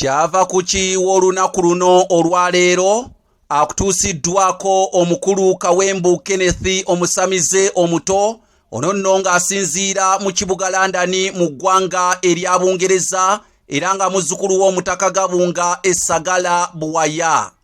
kyava ku ki w'olunaku luno olwaleero akutuusiddwako omukulu kawembu kenneth omusamize omuto ono nno ng'asinziira mu kibuga london mu ggwanga erya bungereza era nga muzzukulu w'omutaka gabunga esagala buwaya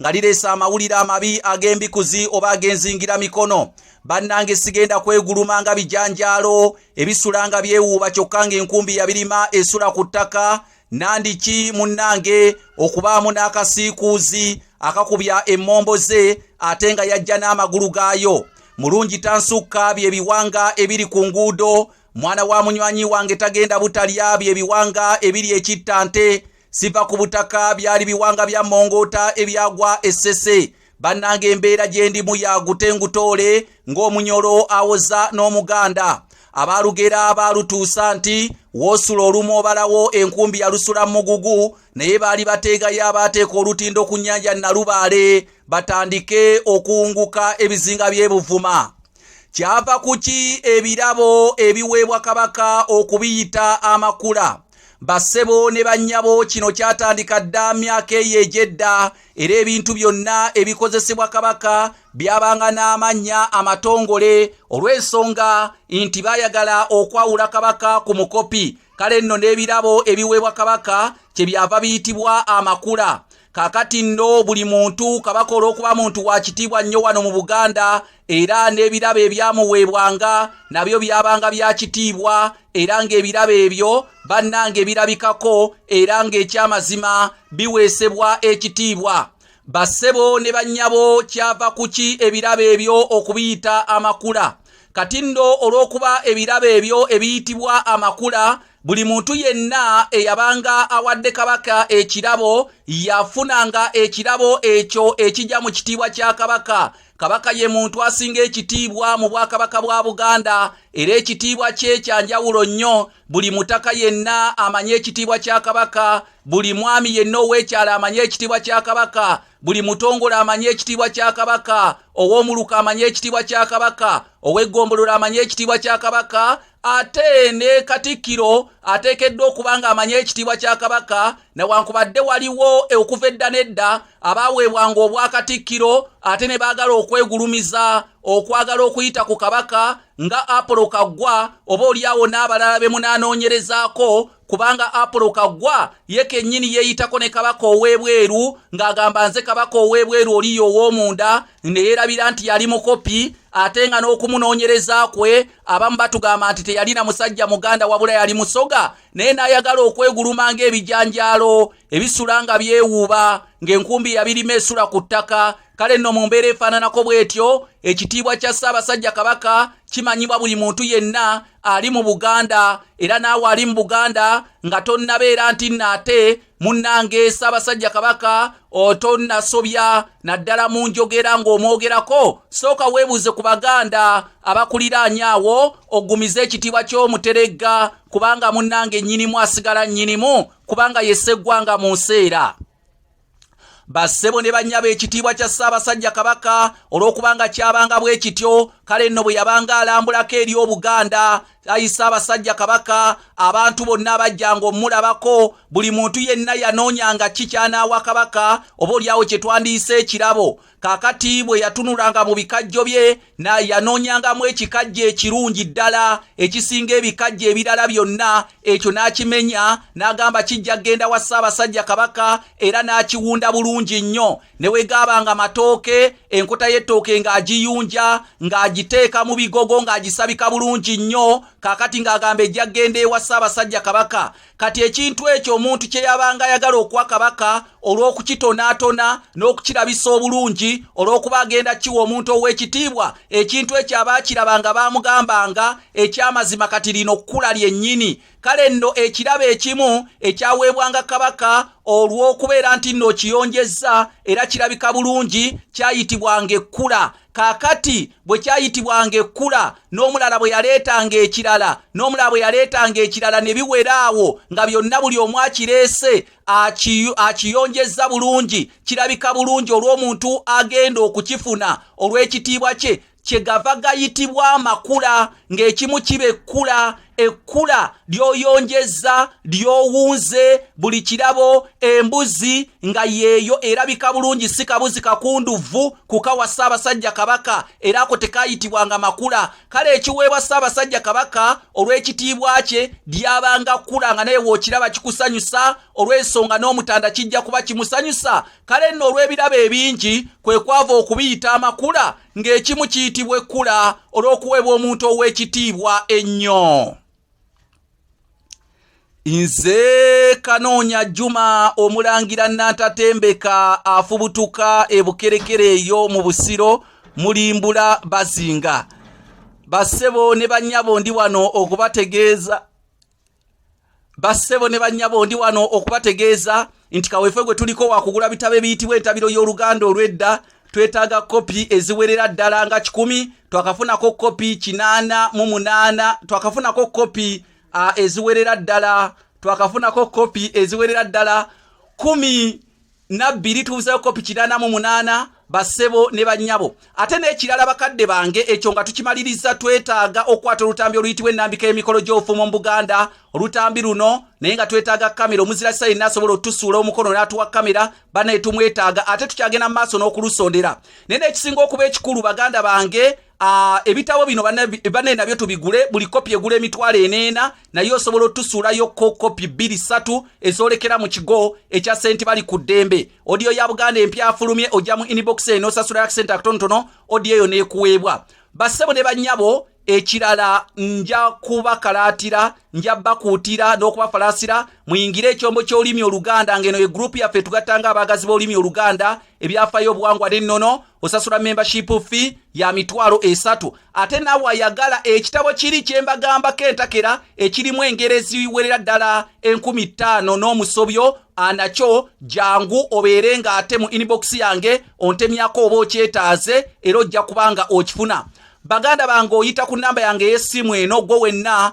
nga lireesa amawulire amabi ag'embikuzi oba ag'enzingira mikono bannange sigenda kweguluma nga bijanjaalo ebisula nga byewuuba kyokka ng'enkumbi yabirima esula ku ttaka nandiki munnange okubaamu n'akasiikuuzi akakubya emmombo ze ate nga yajja n'amagulu gaayo mulungi tansukka bye biwanga ebiri ku nguudo mwana wa munywanyi wange tagenda butalya bye biwanga ebiri ekitta nte siva ku butaka byali biwanga bya mongoota ebyagwa essese bannanga embeera gye ndimu yagute ngutoole ng'omunyolo awoza n'omuganda abaalugera baalutuusa nti woosula olumu obalawo enkumbi yalusula mugugu naye baali bateegayo abaateeka olutindo ku nnyanja nalubaale batandike okuwunguka ebizinga by'ebuvuma kyava ku ki ebirabo ebiweebwa kabaka okubiyita amakula bassebo ne bannyabo kino kyatandika dda myaka eyo egy'edda era ebintu byonna ebikozesebwa kabaka byabanga n'amannya amatongole olw'ensonga nti baayagala okwawula kabaka ku mukopi kale nno n'ebirabo ebiweebwa kabaka kye byava biyitibwa amakula kakati nno buli muntu kabaka olw'okuba muntu wa kitiibwa nnyo wano mu buganda era n'ebirabo ebyamuweebwanga nabyo byabanga bya kitiibwa era ng'ebirabo ebyo bannange birabikako era ng'ekyamazima biweesebwa ekitiibwa bassebo ne bannyabo kyava kuki ebirabo ebyo okubiyita amakula kati nno olw'okuba ebirabo ebyo ebiyitibwa amakula buli muntu yenna eyabanga awadde kabaka ekirabo yafunanga ekirabo ekyo ekija mu kitiibwa kya kabaka kabaka ye muntu asinga ekitiibwa mu bwakabaka bwa buganda era ekitiibwa kye kya njawulo nnyo buli mutaka yenna amanye ekitiibwa kya kabaka buli mwami yenna ow'ekyalo amanye ekitiibwa kya kabaka buli mutongole amanye ekitiibwa kya kabaka ow'omuluka amanye ekitiibwa kya kabaka ow'eggombolola amanye ekitiibwa kya kabaka ate ne katikkiro ateekeddwa okuba ng'amanya ekitiibwa kya kabaka newankubadde waliwo okuva edda n'edda abaaweebwanga obwakatikkiro ate ne baagala okwegulumiza okwagala okuyita ku kabaka nga apolo kaggwa oba olyawo n'abalala be munaanoonyerezaako kubanga apulo kagwa ye kennyini yeeyitako ne kabaka ow'ebweru ng'agamba nze kabaka ow'ebweru oliyo ow'omunda ne yeerabira nti yali mukopi ate nga n'okumunoonyereza kwe abamu batugamba nti teyalina musajja muganda wabula yali musoga naye n'ayagala okweguluma ng'ebijanjaalo ebisula nga byewuuba ng'enkumbi yabirima esula ku ttaka kale nno mu mbeera efaananako bw'etyo ekitiibwa kya ssaabasajja kabaka kimanyibwa buli muntu yenna ali mu buganda era naawe ali mu buganda nga tonnabeera nti nno ate munnange ssaabasajja kabaka otonnasobya naddala mu njogera ng'omwogerako sooka weebuuze ku baganda abakuliraanya awo ogumize ekitiibwa ky'omuteregga kubanga munnange nnyinimu asigala nnyinimu kubanga yeseggwanga mu nseera bassebo ne bannya b'ekitiibwa kya ssaabasajja kabaka olw'okubanga kyabanga bwe kityo kale nno bwe yabanga alambulako eri obuganda ayi ssaabasajja kabaka abantu bonna abajjanga omulabako buli muntu yenna yanoonyanga ki kyanaawa kabaka oba olyawo kye twandiyise ekirabo Kakati bwe yatunulanga mu bikajjo bye na yanoonyangamu ekikajjo ekirungi ddala ekisinga ebikajjo ebirala byonna ekyo n'akimenya n'agamba kijja kgenda wa ssaabasajja kabaka era n'akiwunda bulungi nnyo ne wegaaba nga matooke enkota y'ettooke ng'agiyunja ng'agiteeka mu bigogo ng'agisabika bulungi nnyo kaakati ng'agamba ejja kgenda ewa ssaabasajja kabaka kati ekintu ekyo omuntu kye yabanga ayagala okuwa kabaka olw'okukitonaatona n'okukirabisa obulungi olw'okuba agenda kiwa omuntu ow'ekitiibwa ekintu ekyo aba akirabanga baamugambanga eky'amazima kati lino kkula lyennyini kale nno ekirabo ekimu ekyaweebwanga kabaka olw'okubeera nti nno okiyonjezza era kirabika bulungi kyayitibwanga ekkula kaakati bwe kyayitibwanga ekkula n'omulala bwe yaleetanga ekirala n'omulala bwe yaleetanga ekirala ne biwera awo nga byonna buli omu akireese akiyonjezza bulungi kirabika bulungi olw'omuntu agenda okukifuna olw'ekitiibwa kye kyegava gayitibwa amakula ng'ekimu kiba ekkula ekkula ly'oyonjezza ly'owunze buli kirabo embuzi nga yeeyo erabika bulungi si kabuzi kakunduvvu kukawa ssaabasajja kabaka era ako tekayitibwanga makula kale ekiweebwa ssaabasajja kabaka olw'ekitiibwa kye lyabanga kkula nga naye wookiraba kikusanyusa olw'ensonga n'omutanda kijja kuba kimusanyusa kale nno olw'ebirabo ebingi kwe kwava okubiyita amakula ng'ekimu kiyitibwa ekkula olw'okuweebwa omuntu ow'ekitiibwa ennyo nze kanoonya juma omulangira nantatembeka afubutuka ebukerekere eyo mu busiro mulimbula bazinga bassebo ne bannyabo ndi wano okubategeeza bassebo ne bannyabo ndi wano okubategeeza nti kaweefwe gwe tuliko wakugula bitabo ebiyitibwa entabiro y'oluganda olw'edda twetaaga kopi eziwerera ddala nga kikumi twakafunako kopi kinaana mu munaana twakafunako kopi eziwerera ddala twakafunako kopi eziwerera ddala kumi na bbiri tubuzeeko pikirana mu munaana basebo ne bannyabo ate n'ekirala bakadde bange ekyo nga tukimaliriza twetaaga okukwata olutambi oluyitibwa ennambika y'emikolo gy'obufumo mu buganda olutambi luno naye nga twetaaga kamera omuzira kisa yenna asobola otusuula omukono n'atuwa kamera banaye tumwetaaga ate tukyagenda mu maaso n'okulusondera naye n'ekisinga okuba ekikulu baganda bange Ah, ebitabo bino bane nabyo tubigule buli kopi egula emitwalo eneena naye osobola otusuulayo ko kopi bbiri ssatu ezoolekera mu kigo ekya senti bali ku ddembe odiyo ya buganda empya afulumye ojja mu inbox eno osasula akisente akatonotono odiyo eyo neekuweebwa bassebo ne bannyabo ekirala nja kubakalaatira nja bakuutira n'okubafalaasira muyingire ekyombo ky'olulimi oluganda ng'eno ye gurupu yaffe tugattanga abaagazi b'olulimi oluganda ebyafayo obuwangwa n'ennono osasula membership fee ya mitwalo esatu ate naawe ayagala ekitabo kiri kye mbagambako entakera ekirimu engero eziwerera ddala enkumi ttaano n'omusobyo anakyo jangu obeere nga ate mu inbox yange ontemyako oba okyetaaze era ojja kubanga okifuna baganda bange oyita ku namba yange ey'essimu eno gwo wenna